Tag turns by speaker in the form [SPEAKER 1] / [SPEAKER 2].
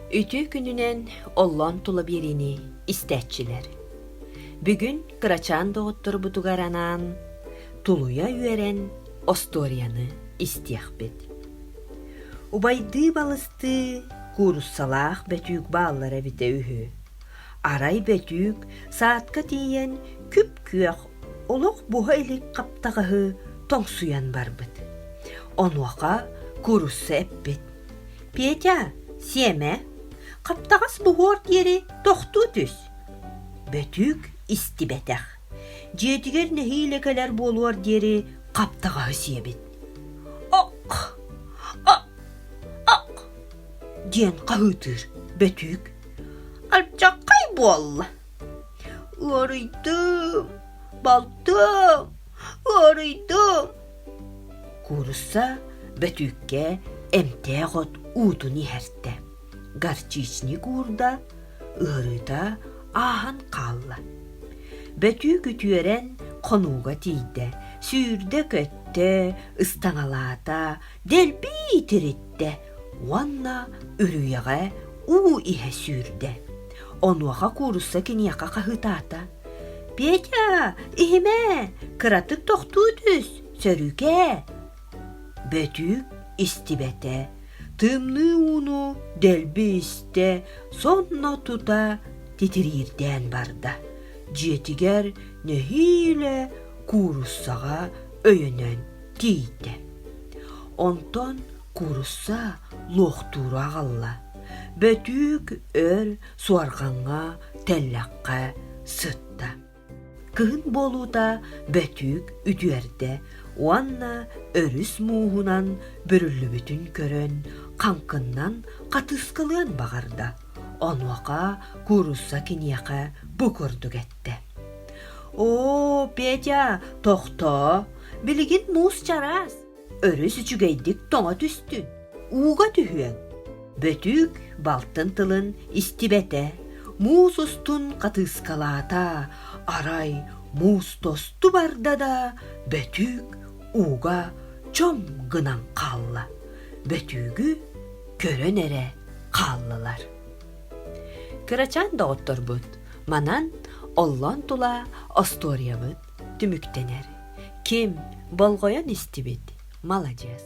[SPEAKER 1] Үтүө күнүнэн оллоон тула биэриини истээччилэр. Бүгүн кырачаан доҕотторбутугар анаан тулуйа үөрэн остуоруйаны истиэхпит. Убайдыы балыстыы кууруссалаах бөтүүк бааллара эбитэ үһү. Арай бөтүүк саатка тиийэн күп-күөх олох буһа илик хаптаҕаһы тоҥсуйан барбыт. Онуоха куурусса эппит: Петя, сиэмэ, хаптаҕас буһуор диэри тохтуу түс. Бөтүүк истибэтэх. Дьиэтигэр нэһиилэ кэлэр буолуор диэри хаптаҕаһы сиэбит. Ок! Ок! Ок! диэн хаһыытыыр Бөтүүк. Алдьархай буолла. Ыарыйдым, балтым, ыарыйдым. Куурусса бөтүүккэ эмтээх от уутун иһэртэ, горчичник уурда, ыарыыта ааһан хаалла. Бөтүүк үтүөрэн хонууга тиийдэ, сүүрдэ-көттө, ыстаҥалаата, дэлби тириттэ, уонна үрүйэҕэ уу иһэ сүүрдэ. Онуоха куурусса киниэхэ хаһыытаата. «Петя, иһимэ! Кыратык тохтуу түс, сөрүүкээ!» Бөтүүк истибэтэ, тымныы ууну дэлби истэ, сонно тута титириирдээн барда. Дьиэтигэр нэһиилэ кууруссаҕа өйөнөн тиийдэ. Онтон курусса луохтуура аҕалла бөтүүк өр суорҕаҥҥа тэллэххэ сытта кыһын буолуута бөтүүк үтүөрдэ уонна өрүс мууһунан бүрүллүбүтүн көрөн хаҥкыннан хатыскалыан баҕарда онуоха куурусса киниэхэ бу курдук эттэ оо петя тохтоо билигин муус чараас Өрүс үчүгэйдик тоҥо түстүн, ууга түһүөҥ. Бөтүүк балтын тылын истибэтэ, муус устун хатыыскалаата, арай муус тосту барда да бөтүүк ууга чом гынан хаалла. Бөтүүгү көрөн эрэ хааллылар. Кырачаан доҕотторбут, манан оллон тула остуоруйабыт түмүктэнэр. Ким болҕойон истибит, маладьыас.